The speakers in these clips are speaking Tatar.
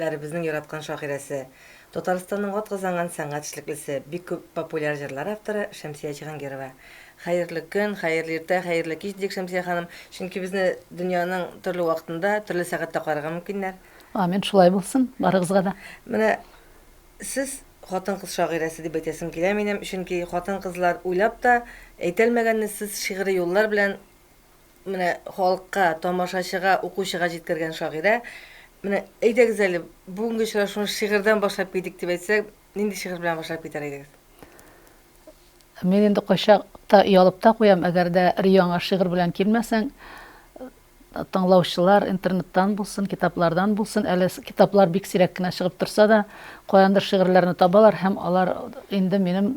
Ләребезнең яраткан шагыйрәсе, Татарстанның атказанган сәнгать эшлеклесе, бик күп популяр җырлар авторы Шәмсия Җиһангирова. Хәерле көн, хәерле иртә, хәерле кич, дидек, Шәмсия ханым, чөнки безне дөньяның төрле вакытында, төрле сәгатьтә карарга мөмкиннәр. Амин, шулай булсын барыгызга да. Менә сез хатын-кыз шагыйрәсе дип әйтәсем килә минем, чөнки хатын-кызлар уйлап та әйтәлмәгәнне сез шигъри юллар белән, Менә халыкка, тамашачыга, укучыга җиткергән шагыйрә. Менә әйдәгез әле, бүгенге очрашуны шигырьдән башлап китик дип әйтсәк, нинди шигырь белән башлап китәр идегез? Мин инде кайчак та оялып та куям, әгәр дә яңа шигырь белән килмәсәң, тыңлаучылар интернеттан булсын, китаплардан булсын, әле китаплар бик сирәк кенә чыгып торса да, каяндыр шигырьләрне табалар һәм алар инде минем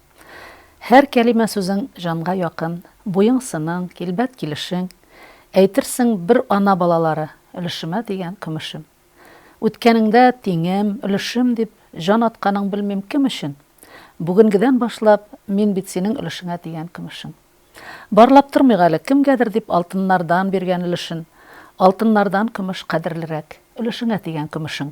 Һәр кәлимә сүзең җанга якын, буең сының, килбәт килешең, әйтерсең бер ана балалары, өлешемә дигән көмешем. Үткәнеңдә тиңем, өлешем дип җан атканың белмим кем өчен, бүгенгедән башлап мин бит синең өлешеңә дигән көмешең. Барлап тормыйк әле, кемгәдер дип алтыннардан биргән өлешен, алтыннардан көмеш кадерлерәк, өлешеңә дигән көмешең.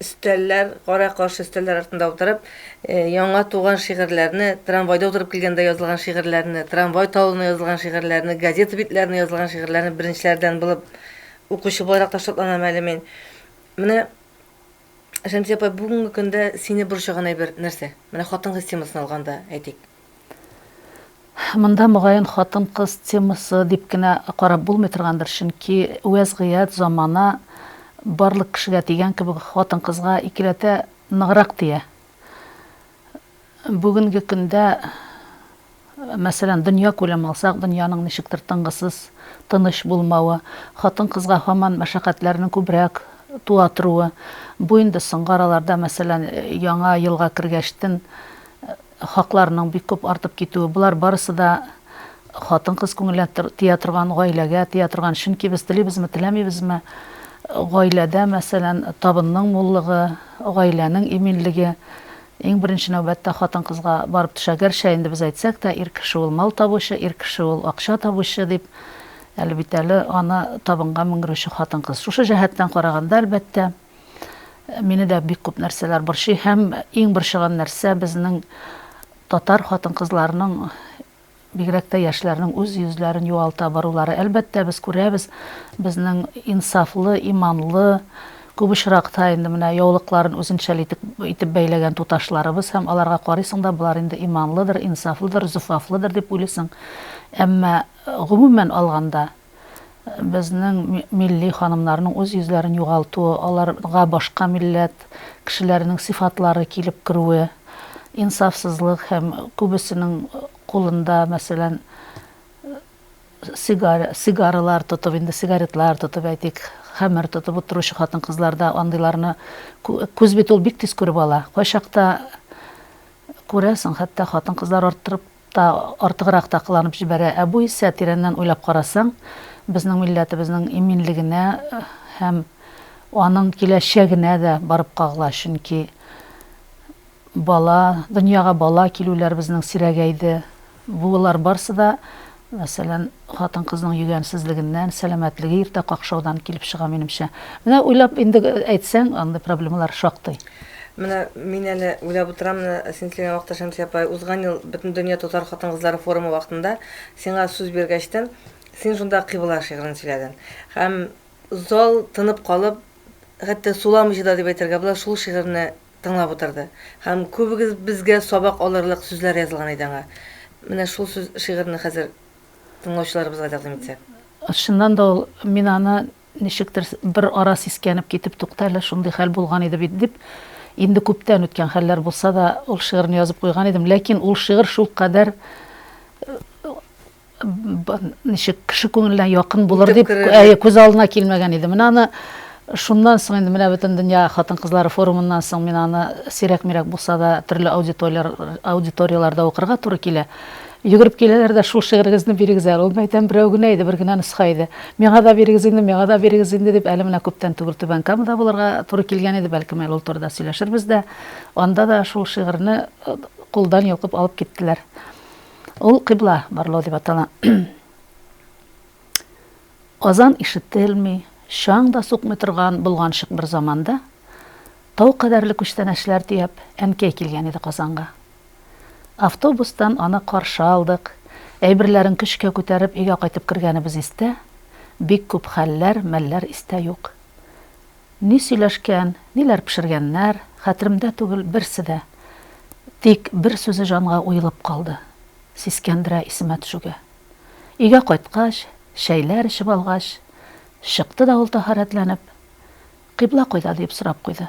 Өстәлләр, кара-каршы өстәлләр артында утырып, яңа туган шигырьләрне, трамвайда утырып килгәндә язылган шигырьләрне, трамвай талына язылган шигырьләрне, газета битләренә язылган шигырьләрне беренчеләрдән булып укучы буларак та шатланам әле мин. Менә, Шәмсия апа, бүгенге көндә сине борчыган әйбер нәрсә? Менә хатын-кыз темасын алганда әйтик. Монда, мөгаен, хатын-кыз темасы дип кенә карап булмый торгандыр, чөнки вәзгыять, замана барлык кешегә дигән кебек хатын-кызга икеләтә ныграк тия. Бүгенге көндә, мәсәлән, дөньякүләм алсак, дөньяның ничектер тынгысыз, тыныч булмавы, хатын-кызга һаман мәшәкатьләрнең күбрәк туа торуы, бу инде соңгы араларда, мәсәлән, Яңа елга кергәчтен Хакларның бик күп артып китүе, болар барысы да хатын-кыз күңеленә тия торган, гаиләгә тия торган, чөнки без телибезме, теләмибезме, гаиләдә, мәсәлән, табынның муллыгы, гаиләнең иминлеге иң беренче нәүбәттә хатын-кызга барып төшә. Гәрчә инде без әйтсәк тә, ир кеше ул мал табучы, ир кеше ул акча табучы дип, әле бит әле аны табынга менгерүче хатын-кыз. Шушы җәһәттән караганда, әлбәттә. Мине дә бик күп нәрсәләр борчый һәм иң борчыган нәрсә безнең татар хатын-кызларының бигрәк тә яшьләрнең үз йөзләрен югалта барулары. Әлбәттә, без күрәбез, безнең инсафлы, иманлы, күп очракта инде менә яулыкларын үзенчәл итеп, итеп бәйләгән туташларыбыз һәм аларга карыйсың да, болар инде иманлыдыр, инсафлыдыр, зөфафлыдыр дип уйлыйсың. Әмма, гомумән алганда, Безнең милли ханымнарның үз йөзләрен югалтуы, аларга башка милләт кешеләренең сыйфатлары килеп керүе, инсафсызлык һәм күбесенең кулында, мәсәлән, сигаралар тотып, инде сигаретлар тотып, әйтик, хәмер тотып утыручы хатын-кызлар да андыйларны күз бит ул бик тиз күреп ала. Кайчакта күрәсең, хәтта хатын-кызлар арттырып Та, артыграк та кыланып җибәрә, ә бу исә, тирәннән уйлап карасаң, безнең милләтебезнең иминлегенә һәм аның киләчәгенә дә барып кагыла, чөнки бала, дөньяга бала килүләр безнең сирәгәйде, бу лар барсы да, мәсәлән, Хатын-кызның йөгәнсезлегеннән, сәламәтлеге иртә какшаудан килеп чыга, минемчә. Менә уйлап инде әйтсәң, андый проблемалар шактый. Менә мин әле уйлап утырам, менә син килгән вакытта, Шәмсия апай, узган ел Бөтендөнья татар хатын-кызлары форумы вакытында сиңа сүз биргәчтен, син шунда Кыйбла шигырен сөйләдең. Һәм зал тынып калып, хәтта суламыйча да дип әйтергә була, шул шигырьне тыңлап утырды. Һәм күбегезбезгә сабак алырлык сүзләр язылган иде аңа. Менә шул сүз шигырьне хәзер тыңлаучыларыбызга тәкъдим итсәк. Чыннан да ул, мин аны ничектер бер ара сискәнеп китеп, тукта әле, шундый хәл булган иде бит, дип, инде күптән үткән хәлләр булса да, ул шигырьне язып куйган идем. Ләкин ул шигырь шулкадәр, ничек, кеше күңеленә якын булыр дип, әйе, күз алдына килмәгән иде. Менә аны шуннан соң инде, менә Бөтендөнья хатын-кызлары форумыннан соң мин аны сирәк-мирәк булса да төрле аудиторияләрдә укырга туры килә. Йөгереп киләләр дә, Шул шигырегезне бирегез әле. Ул мәйдан берәү генә иде, бер генә нөсха иде. Миңа да бирегез инде, миңа да бирегез инде, дип, әле менә күптән түгел Түбән Камада булырга туры килгән иде, бәлкем әле ул турыда сөйләшербез дә. Анда да шул шигырьне кулдан йолкып алып киттеләр. Ул Кыйбла барлау дип атала. Азан ишетелми, чаң да сукмый торган болганчык бер заманда, тау кадәрле күчтәнәчләр төяп, әнкәй килгән иде Казанга. Автобустан аны каршы алдык. Әйберләрен көчкә күтәреп өйгә кайтып кергәнебез истә, бик күп хәлләр, мәлләр истә юк. Ни сөйләшкән, ниләр пешергәннәр, хәтеремдә түгел берсе дә. Тик бер сүзе җанга уелып калды, сискәндерә исемә төшүгә. Өйгә кайткач, чәйләр эчеп алгач, чыкты да ул таһарәтләнеп, Кыйбла кайда? диеп сорап куйды.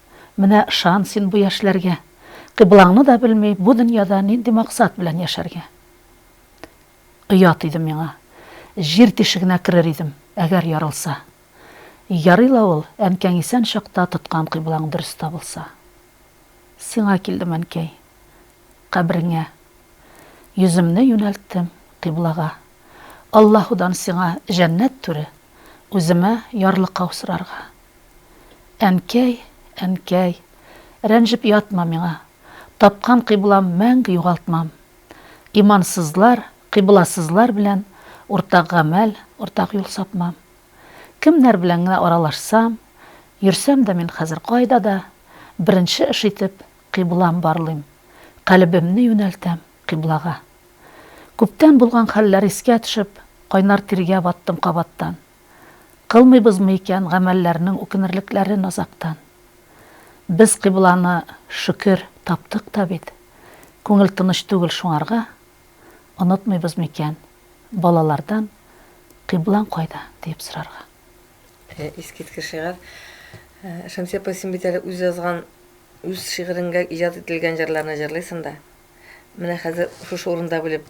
Менә ышан син бу яшьләргә, Кыйблаңны да белми, бу дөньяда нинди максат белән яшәргә? Оят иде миңа. Җир тишегенә керер идем, әгәр ярылса. Ярый ла ул, әнкәң исән чакта тоткан кыйблаң дөрес табылса. Сиңа килдем, әнкәй, кабереңә. Йөземне юнәлттем кыйблага. Аллаһудан сиңа җәннәт түре, үземә ярлыкау сорарга. Әнкәй, әнкәй, рәнҗеп ятма миңа, Тапкан кыйблам мәңге югалтмам. Имансызлар, кыйбласызлар белән Уртак гамәл, уртак юл сапмам. Кемнәр белән генә аралашсам, Йөрсәм дә мин хәзер кайда да, Беренче эш итеп, кыйблам барлыйм, Калебемне юнәлтәм кыйблага. Күптән булган хәлләр искә төшеп, Кайнар тиргә баттым кабаттан. Кылмыйбызмы икән гамәлләрнең үкенерлекләрен азактан? Без кыйбланы, шөкер, таптык та бит. Күңел тыныч түгел шуңарга. Онытмыйбыз микән, балалардан, Кыйблаң кайда? диеп сорарга. Искиткеч шигырь. Шәмсия апай, син бит әле үз язган, үз шигыренгә иҗат ителгән җырларны җырлыйсың да. Менә хәзер шушы урында белеп.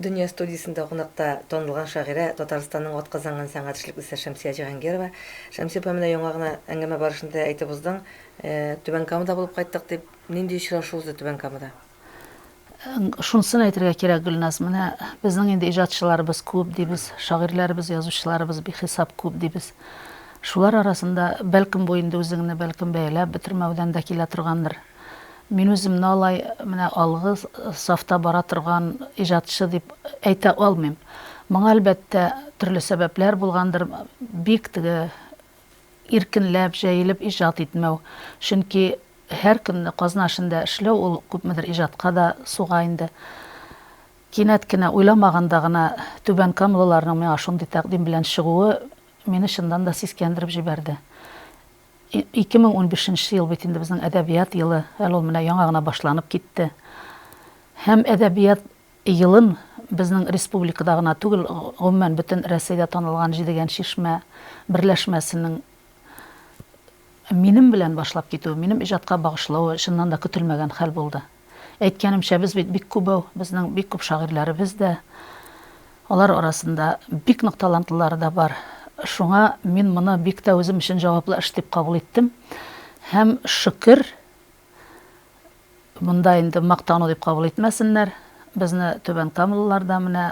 Дөнья студиясендә кунакта танылган шагыйрә, Татарстанның атказанган сәнгать эшлеклесе Шәмсия Җиһангирова. Шәмсия апа, менә яңа гына әңгәмә барышында әйтеп уздың, Түбән Камада булып кайттык дип. Нинди очрашу узды Түбән Камада? Шунысын әйтергә кирәк, Гөлназ, менә безнең инде иҗатчыларыбыз күп дибез, шагыйрьләребез, язучыларыбыз бихисап күп дибез. Шулар арасында, бәлкем, бу инде үзеңне бәлкем бәяләп бетермәүдән дә килә торгандыр, Мин үземне алай менә алгы сафта бара торган иҗатчы дип әйтә алмыйм. Моңа, әлбәттә, төрле сәбәпләр булгандыр, бик теге иркенләп, җәелеп иҗат итмәү. Чөнки һәр көнне казна эшендә эшләү ул күпмедер иҗатка да суга инде. Кинәт кенә, уйламаганда гына түбәнкамлыларның миңа шундый тәкъдим белән чыгуы мине чыннан да сискәндереп җибәрде. Ике мең унбишенче ел бит инде безнең әдәбият елы, әле ул менә яңа гына башланып китте. Һәм әдәбият елын безнең республикада гына түгел, гомумән бөтен Рәсәйдә танылган Җидегән чишмә берләшмәсенең минем белән башлап китүе, минем иҗатка багышлавы чыннан да көтелмәгән хәл булды. Әйткәнемчә, без бит бик күбәү, безнең бик күп шагыйрьләребез дә, алар арасында бик нык талантлылары да бар. Шуңа мин моны бик тә үзем өчен җаваплы эш дип кабул иттем һәм, шөкер, монда инде мактану дип кабул итмәсеннәр, безне Түбән Камалылар да менә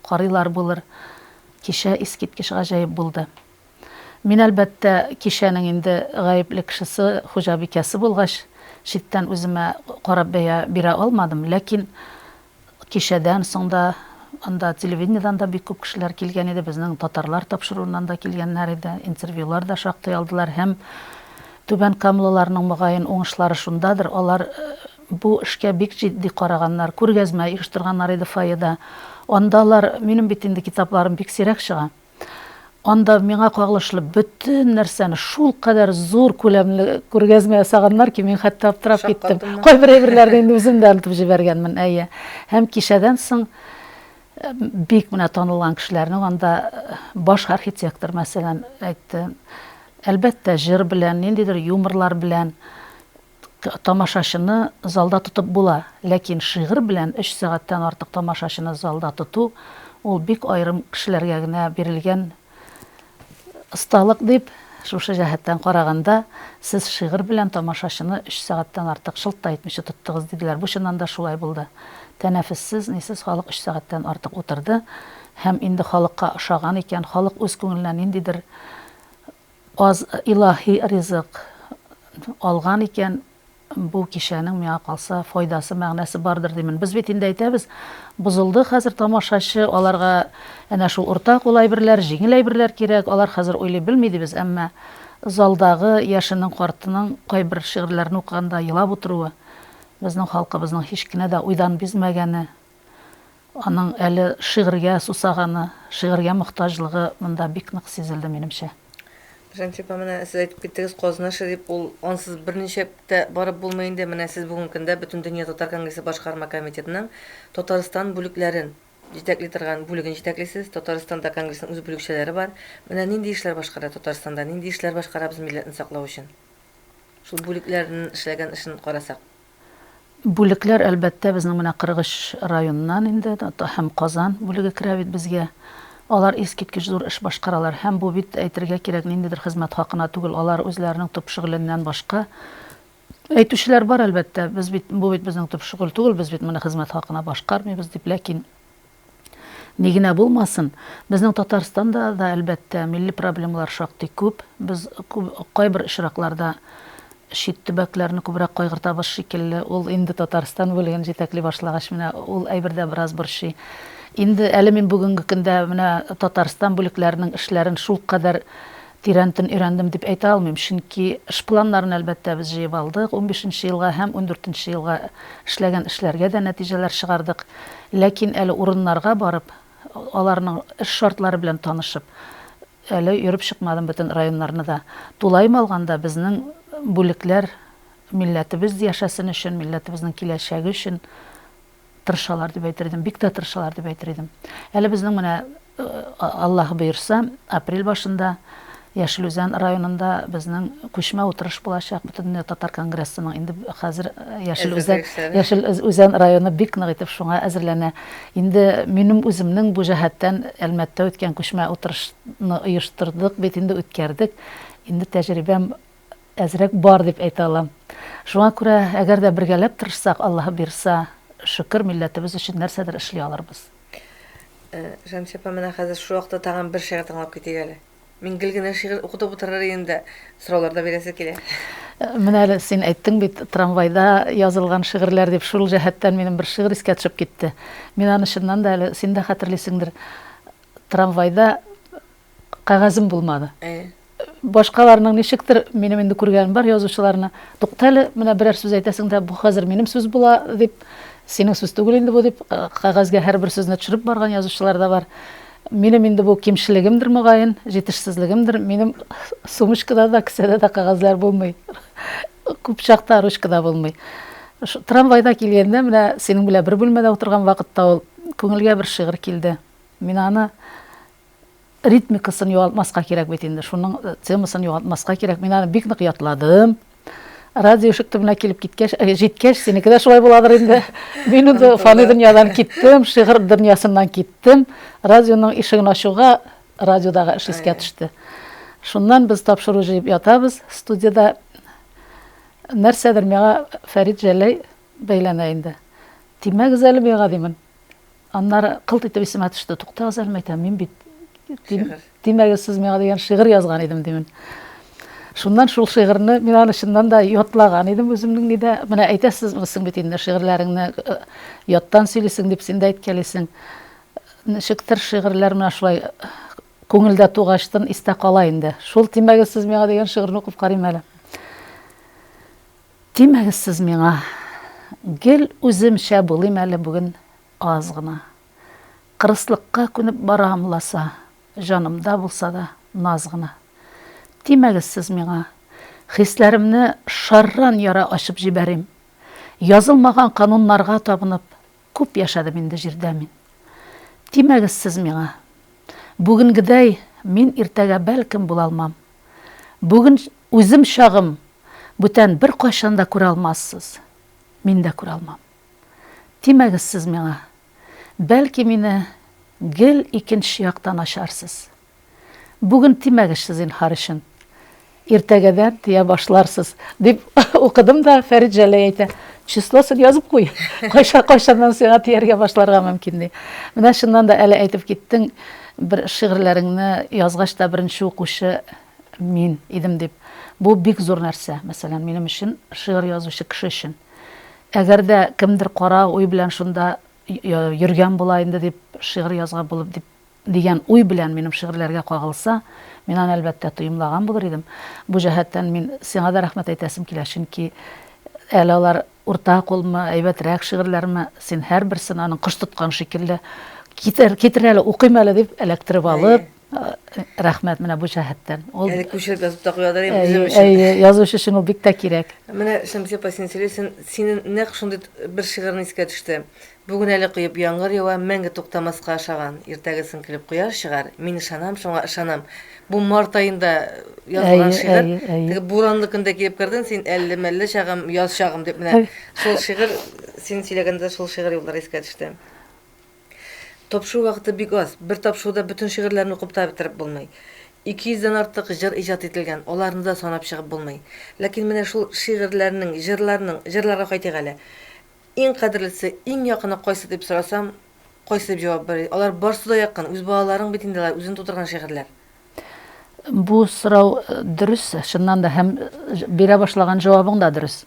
карыйлар булыр, кичә искиткеч гаҗәеп булды. Мин, әлбәттә, кичәнең инде гаепле кешесе, хуҗабикәсе булгач, читтән үземә карап бәя бирә алмадым. Ләкин кичәдән соң да анда телевидениедән дә бик күп кешеләр килгән иде, безнең татарлар тапшыруыннан да килгәннәр иде, интервьюлар да шактый алдылар. Һәм түбәнкамлыларның, мөгаен, уңышлары шундадыр, алар бу эшкә бик җитди караганнар, күргәзмә оештырганнар иде фойеда. Андалар, минем бит инде китапларым бик сирәк чыга. Анда миңа кагылышлы бөтен нәрсәне шулкадәр зур күләмле күргәзмә ясаганнар ки, мин хәтта аптырап киттем. Кайбер әйберләрне инде үзем дә онытып җибәргәнмен, әйе. Һәм кичәдән соң бик менә танылган кешеләрнең анда баш архитектор, мәсәлән, әйтте, әлбәттә, җыр белән, ниндидер юморлар белән Тамашачыны залда тотып була, ләкин шигырь белән өч сәгатьтән артык тамашачыны залда тоту, ул бик аерым кешеләргә генә бирелгән осталык дип, шушы җәһәттән караганда, сез шигырь белән тамашачыны өч сәгатьтән артык шылт та итмичә тоттыгыз, диделәр. Бу чыннан да шулай булды. Тәнәфессез, нисез халык өч сәгатьтән артык утырды һәм инде халыкка ошаган икән, халык үз күңеленә ниндидер Аз илаһи ризык алган икән, бу кичәнең миңа калса файдасы, мәгънәсе бардыр димен. Без бит инде әйтәбез, бозылды хәзер тамашачы, аларга әнә шул уртак ул әйберләр, җиңел әйберләр кирәк, алар хәзер уйлый белми дибез, әмма залдагы яшенең, картының кайбер шигырьләрне укыганда елап утыруы, безнең халкыбызның һич кенә дә уйдан бизмәгәне, Аның әле шигырьгә сусаганы, шигырьгә мохтаҗлыгы монда бик нык сизелде, минемчә. Гөлҗанет апа, менә сез әйтеп киттегез, Казна шәрип ул, ансыз берничә тә барып булмый инде. Менә сез бүгенге көндә Бөтендөнья татар конгрессы башкарма комитетының Татарстан бүлекләрен җитәкли торган бүлеген җитәклисез. Татарстанда конгрессның үз бүлекчәләре бар. Менә нинди эшләр башкара Татарстанда, нинди эшләр башкарабыз милләтне саклау өчен? Шул бүлекләрнең эшләгән эшен карасак. Бүлекләр, әлбәттә, безнең менә 43 районнан инде һәм Казан бүлеге керә бит безгә. Алар искиткеч зур эш башкаралар. Һәм бу бит, әйтергә кирәк, ниндидер хезмәт хакына түгел. Алар үзләренең төп шөгыленнән башка Әйтүчеләр бар, әлбәттә, без бит, бу бит безнең төп шөгыль түгел, без бит моны хезмәт хакына башкармыйбыз дип, ләкин, Ни генә булмасын, безнең Татарстанда да, әлбәттә, милли проблемалар шактый күп. Без кайбер очракларда чит төбәкләрне күбрәк кайгыртабыз шикелле. Ул инде Татарстан бүлеген җитәкли башлагач, менә ул әйбер дә бераз борчый. Инде әле мин бүгенге көндә менә Татарстан бүлекләренең эшләрен шулкадәр Тирәнтен өйрәндем дип әйтә алмыйм, чөнки эш планнарын, әлбәттә, без җыеп алдык, унбишенче елга һәм ундүртенче елга эшләгән эшләргә дә нәтиҗәләр чыгардык. Ләкин әле урыннарга барып, аларның эш шартлары белән танышып, әле йөреп чыкмадым бөтен районнарны да. Тулаем алганда, безнең бүлекләр милләтебез яшәсен өчен, милләтебезнең киләчәге өчен Тырышалар дип әйтер идем, бик тә тырышалар дип әйтер идем. Әле безнең менә Аллаһ боерса, апрель башында Яшел Үзән районында безнең күчмә утырыш булачак Бөтендөнья татар конгрессының. Инде хәзер Яшел Үзән, Яшел Үзән районы бик нык итеп шуңа әзерләнә. Инде минем үземнең бу җәһәттән Әлмәттә үткән күчмә утырышны оештырдык бит инде, үткәрдек. Инде тәҗрибәм әзрәк бар дип әйтә алам. Шуңа күрә, әгәр дә бергәләп тырышсак, Аллаһы бирса, шөкер, милләтебез өчен нәрсәдер эшли алырбыз. Шәмсия апа, менә хәзер шул вакытта тагын бер шигырь тыңлап китик әле. Мин гел генә шигырь укытып утырыр идем дә, сораулар да бирәсе килә. Менә әле син әйттең бит, трамвайда язылган шигырьләр дип, шул җәһәттән минем бер шигырь искә төшеп китте. Мин аны чыннан да әле, син дә хәтерлисеңдер, трамвайда Кәгазем булмады. Башкаларның ничектер, минем инде күргәнем бар язучыларны, тукта әле, менә берәр сүз әйтәсең дә, бу хәзер минем сүз була, дип, синең сүз түгел инде бу, дип, кәгазьгә һәрбер сүзне төшереп барган язучылар да бар. Минем инде бу кимчелегемдер, мөгаен, җитешсезлегемдер, минем сумочкада да, кесәдә дә кәгазьләр булмый. Күп чакта ручка да булмый. Трамвайда килгәндә, менә синең белән бер бүлмәдә утырган вакытта ул күңелгә бер шигырь килде. Мин аны ритмикасын югалтмаска кирәк бит инде, шуның темасын югалтмаска кирәк, мин аны бик нык ятладым. Радио ишек төбенә килеп киткәч, э, җиткәч, синеке дә шулай буладыр инде. Мин инде фани дөньядан киттем, шигырь дөньясыннан киттем. Радионың ишеген ачуга, радиодагы эш искә төште. Шуннан без тапшыру җыеп ятабыз студияда. Нәрсәдер миңа Фәрит Җәләй бәйләнә инде. Тимәгез әле миңа, димен. Аннары кылт итеп исемә төште. Туктагыз әле, мәйтәм, мин бит Димәге сез миңа дигән шигырь язган идем димен. Шуннан шул шигырьне мин аны чыннан да ятлаган идем үземнең нидә. Менә әйтәсез мисең бит инде шигырьләреңне э, яттан сөйлисең дип син дә әйткәлисең. Ничектер шигырьләр менә шулай э, күңелдә тугачтын истә кала инде. Шул тимәге сез миңа дигән шигырьне укып карыйм әле. Тимәгез сез миңа, гел үземчә булыйм әле бүген аз гына. Кырыслыкка күнеп барам ласа, җанымда булса да наз гына. Тимәгез сез миңа, хисләремне шарран яра ачып җибәрим. Язылмаган кануннарга табынып. Күп яшәдем инде җирдә мин. Тимәгез сез миңа. Бүгенгедәй мин иртәгә бәлкем булалмам. Бүген үзем чагым бүтән беркайчан да күрә алмассыз. Мин дә күрә алмам. Тимәгез сез миңа. Бәлки мине гел икенче яктан ачарсыз. Бүген тимәгезче, зинһар өчен. Иртәгәдән тия башларсыз, дип укыдым да, Фәрит Җәләй әйтә, Числосын язып куй, кайчаннан сиңа тияргә башларга мөмкин, ди. Менә чыннан да, әле әйтеп киттең, бер шигырьләреңне язгач та беренче укучы мин идем дип. Бу бик зур нәрсә, мәсәлән, минем өчен, шигырь язучы кеше өчен. Әгәр дә кемдер кара уй белән шунда йөргән була инде дип, шигырь язган булып дип, Дигән уй белән минем шигырьләргә кагылса, мин аны, әлбәттә, тоемлаган булыр идем. Бу җәһәттән мин сиңа да рәхмәт әйтәсем килә, чөнки әле алар урта кулмы, әйбәтрәк шигырьләрме, син һәрберсен, аның кош тоткан шикелле, Китер, китер әле, укыйм әле, дип эләктереп алып, рәхмәт менә бу җәһәттән. Ул Әле күчереп язып та куялар инде безнең өчен. Әйе, язучы өчен ул бик тә кирәк. Менә Шәмсия апа, син сөйлисең, синең нәкъ шундый бер шигырен искә төште. Бүген әле коеп яңгыр ява, мәңге туктамаска ошаган. Иртәгесен көлеп кояш чыгар, мин ышанам шуңа, ышанам. Бу март аенда язылган Әйе, шигырь. әйе, әйе. Теге буранлы көндә килеп кердең син, әлле-мәлле чагым, яз чагым дип менә. Шул шигырь, син сөйләгәндә шул шигырь юллары искә төште. Тапшыру вакыты бик аз. Бер тапшыруда бөтен шигырьләрне укып та бетереп булмый. Ике йөздән артык җыр иҗат ителгән, аларны да санап чыгып булмый. Ләкин менә шул шигырьләрнең, җырларның, җырларга кайтыйк әле. Иң кадерлесе, иң якыны кайсы дип сорасам, кайсы дип җавап бирер? Алар барсы да якын, үз балаларың бит инде алар, үзең тудырган шигырьләр. Бу сорау дөрес, чыннан да, һәм бирә башлаган җавабың да дөрес.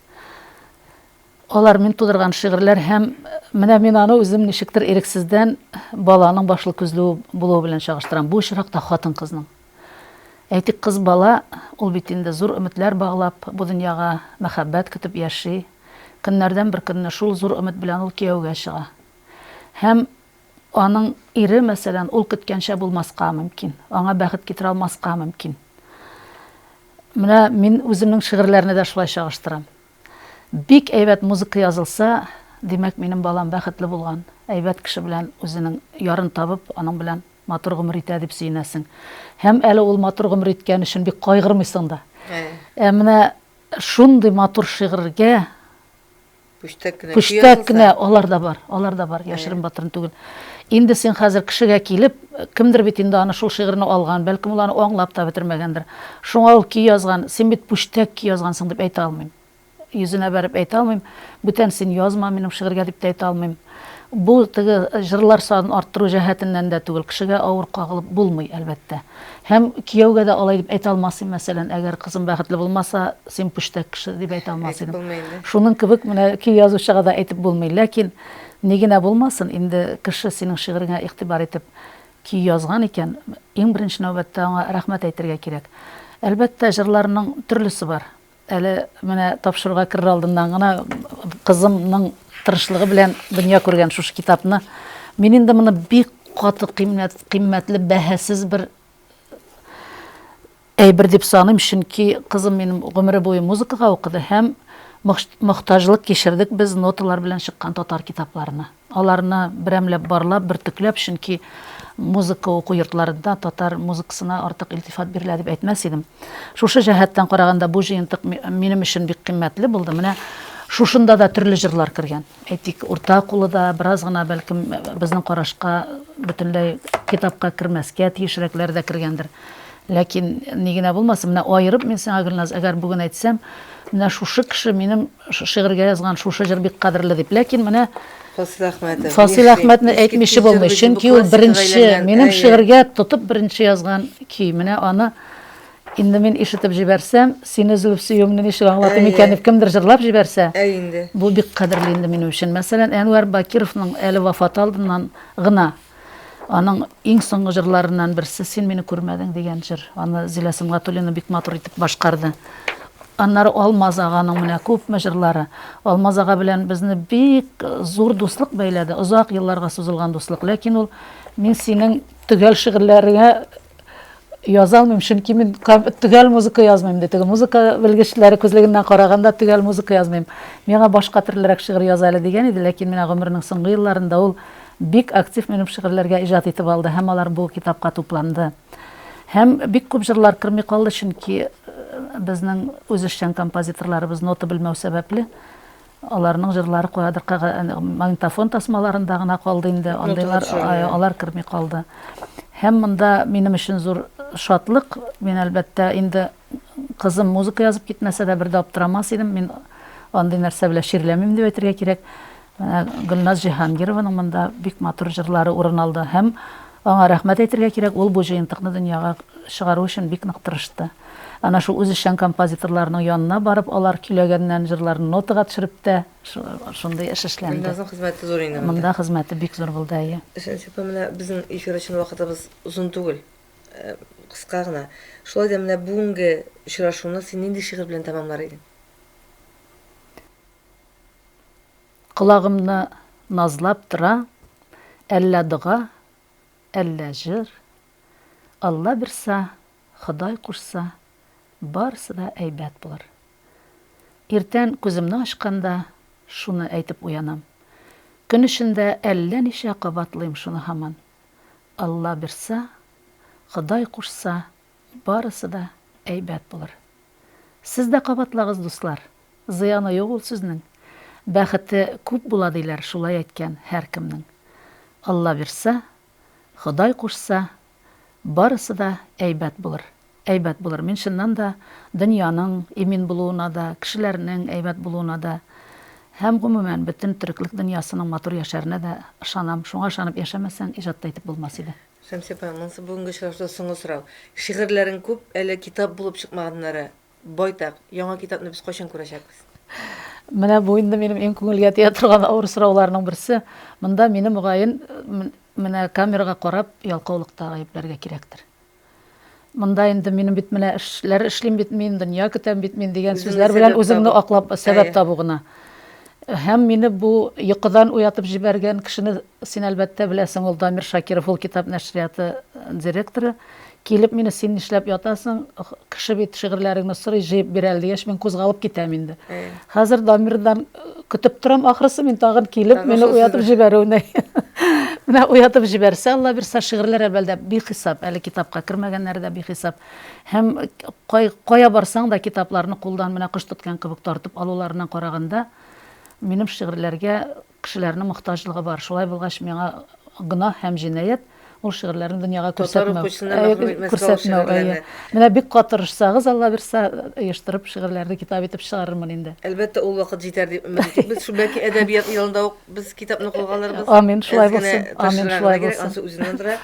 Алар, мин тудырган шигырьләр һәм менә мин аны үзем ничектер ирексездән баланың башлы-күзле булуы белән чагыштырам. Бу очракта хатын-кызның. Әйтик, кыз бала, ул бит инде зур өметләр баглап, бу дөньяга мәхәббәт көтеп яши, Көннәрдән бер көнне шул зур өмет белән ул кияүгә чыга. Һәм аның ире, мәсәлән, ул көткәнчә булмаска мөмкин, аңа бәхет китерә алмаска мөмкин. Менә мин үземнең шигырьләрне дә шулай чагыштырам. Бик әйбәт музыка язылса, димәк, минем балам бәхетле булган, әйбәт кеше белән үзенең ярын табып, аның белән матур гомер итә дип сөенәсең. Һәм әле ул матур гомер иткән өчен бик кайгырмыйсың да. Ә менә Шундый матур шигырьгә Пүчтәк кенә Пүчтәк кенә алар да бар, алар да бар, яшерен батырын түгел. Инде син хәзер кешегә килеп, кемдер бит инде аны шул шигырьне алган, бәлкем ул аны аңлап та бетермәгәндер. Шуңа ул көй язган, син бит пүчтәк көй язгансың дип әйтә алмыйм. Йөзенә бәреп әйтә алмыйм. Бүтән син язма минем шигырьгә дип тә әйтә алмыйм. Бу теге җырлар санын арттыру җәһәтеннән дә түгел, кешегә авыр кагылып булмый, әлбәттә. Һәм кияүгә дә алай дип әйтә алмасым, мәсәлән, әгәр кызым бәхетле булмаса, син пүчтәк кеше, дип әйтә алмас идем. Шуның кебек менә көй язучыга да әйтеп булмый. Ләкин, ни генә булмасын, инде кеше синең шигыреңә игътибар итеп көй язган икән, иң беренче нәүбәттә аңа рәхмәт әйтергә кирәк. Әлбәттә, җырларның төрлесе бар. Әле менә тапшыруга керер алдыннан гына кызымның тырышлыгы белән дөнья күргән шушы китапны мин инде моны бик каты кыйммәт, кыйммәтле, бәһасез бер әйбер дип саныйм, чөнки кызым минем гомере буе музыкага укыды һәм мохтаҗлык кичердек без ноталар белән чыккан татар китапларына. Аларны берәмләп барлап, бөртекләп, чөнки музыка уку йортларында татар музыкасына артык илтифат бирелә дип әйтмәс идем. Шушы җәһәттән караганда бу җыентык минем өчен бик кыйммәтле булды. Менә шушында да төрле җырлар кергән. Әйтик, урта кулы да, бераз гына, бәлкем, безнең карашка бөтенләй китапка кермәскә тиешрәкләре дә кергәндер. Ләкин, ни генә булмасын, менә аерып мин сиңа, Гөлназ, әгәр бүген әйтсәм, Менә шушы кеше минем шигырьгә язган шушы җыр бик кадерле дип. Ләкин менә Фасил Әхмәтов, Фасил Әхмәтне әйтмичә булмый, чөнки ул беренче, минем шигырьгә тотып беренче язган көй. Менә аны инде мин ишетеп җибәрсәм, сине өзелеп сөюемне ничек аңлатыйм икән дип кемдер җырлап җибәрсә, бу бик кадерле инде минем өчен. Мәсәлән, Әнвәр Бакировның әле вафаты алдыннан гына Аның иң соңгы җырларыннан берсе Син мине күрмәдең дигән җыр. Аны Зилә Сөнгатуллина бик матур итеп башкарды. Аннары Алмаз аганың менә күпме җырлары. Алмаз ага белән безне бик зур дуслык бәйләде, озак елларга сузылган дуслык. Ләкин ул Мин синең төгәл шигырьләреңә Яза алмыйм, чөнки мин төгәл музыка язмыйм, ди теге музыка белгечләре күзлегеннән караганда төгәл музыка язмыйм. Миңа башка төрлерәк шигырь яз әле дигән иде, ләкин менә гомеренең соңгы елларында ул бик актив минем шигырьләргә иҗат итеп алды һәм алар бу китапка тупланды. Һәм бик күп җырлар керми калды, чөнки безнең үзешчән композиторларыбыз нота белмәү сәбәпле, Аларның җырлары каядыр магнитофон тасмаларында гына калды инде, андыйлар алар керми калды. Һәм монда минем өчен зур шатлык, мин әлбәттә инде кызым музыка язып китмәсә дә бер дә аптырамас идем, мин андый нәрсә белән чирләмим дип әйтергә кирәк. Гөлназ Җиһангированың монда бик матур җырлары урын алды һәм Аңа рәхмәт әйтергә кирәк, ул бу җыентыкны дөньяга чыгару өчен бик нык тырышты. Әнә шул үзешчән композиторларның янына барып, алар көйләгәннән җырларны нотага төшереп тә шундый эш эшләнде. Гөлназның хезмәте зур инде монда. Монда хезмәте бик зур булды, әйе. Шәмсия апа, менә безнең эфир өчен вакытыбыз озын түгел, кыска гына. Шулай да менә бүгенге очрашуны син нинди шигырь белән тәмамлар идең? Колагымны назлап тора Әллә дога, әллә җыр. Алла бирса, Ходай кушса, Барысы да әйбәт булыр. Иртән күземне ачканда Шуны әйтеп уянам. Көн эчендә әллә ничә Кабатлыйм шуны һаман. Алла бирса, Ходай кушса, Барысы да әйбәт булыр. Сез дә кабатлагыз, дуслар. Зыяны юк ул сүзнең. Бәхете күп була диләр, шулай әйткән һәркемнең. Алла бирса, Ходай кушса, барысы да әйбәт булыр. Әйбәт булыр. Мин чыннан да дөньяның имин булуына да, кешеләрнең әйбәт булуына да һәм, гомумән, бөтен төреклек дөньясының матур яшәренә дә ышанам. Шуңа ышанып яшәмәсәң, иҗат та итеп булмас иде. Шәмсия апа, монысы бүгенге очрашуда соңгы сорау. Шигырьләрең күп, әле китап булып чыкмаганнары байтак. Яңа китапны без кайчан күрәчәкбез? Менә бу инде минем иң күңелгә тия торган авыр сорауларның берсе. Монда мине, мөгаен, менә камерага карап ялкаулыкта гаепләргә кирәктер. Монда инде минем бит менә эшләр эшлим бит мин, дөнья көтәм бит мин дигән сүзләр белән үзеңне аклап, сәбәп табу гына. Һәм мине бу йокыдан уятып җибәргән кешене син әлбәттә беләсең, ул Дамир Шакиров, ул китап нәшрияты директоры. Килеп мине син нишләп ятасың, кеше бит шигырьләреңне сорый, җыеп бирә әле дигәч, мин кузгалып китәм инде. Хәзер Дамирдан Көтеп торам ахрысы мин тагын килеп мине уятып җибәрүне. Менә уятып җибәрсә, Алла бирсә, шигырьләр әлбәттә бихисап, әле китапка кермәгәннәре дә бихисап. Һәм кая барсаң да китапларны кулдан менә кош тоткан кебек тартып алуларыннан караганда, минем шигырьләргә кешеләрнең мохтаҗлыгы бар. Шулай булгач, миңа гөнаһ һәм җинаять. Ул шигырьләрен дөньяга күрсәтмәү. Татар укучысына мәгълүм итмәскә ул шигырьләрне. Менә бик кат тырышсагыз, Алла бирсә, оештырып шигырьләрне китап итеп чыгарырмын инде. Әлбәттә, ул вакыт җитәр дип өмет итик без. Шул бәлки әдәбият елында ук без китапны кулга алырбыз. Амин, шулай булсын. Амин, шулай булсын. Ансы үзеннән тора.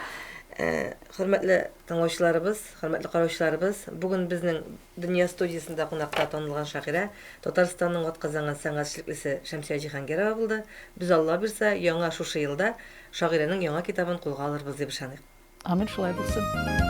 Хөрмәтле тыңлаучыларыбыз, хөрмәтле караучыларыбыз, бүген безнең Дөнья студиясендә кунакта танылган шагыйрә, Татарстанның атказанган сәнгать эшлеклесе Шәмсия Җиһангирова булды. Без, Алла бирса, яңа шушы елда шагыйрәнең яңа китабын кулга алырбыз дип ышаныйк. Амин, шулай булсын.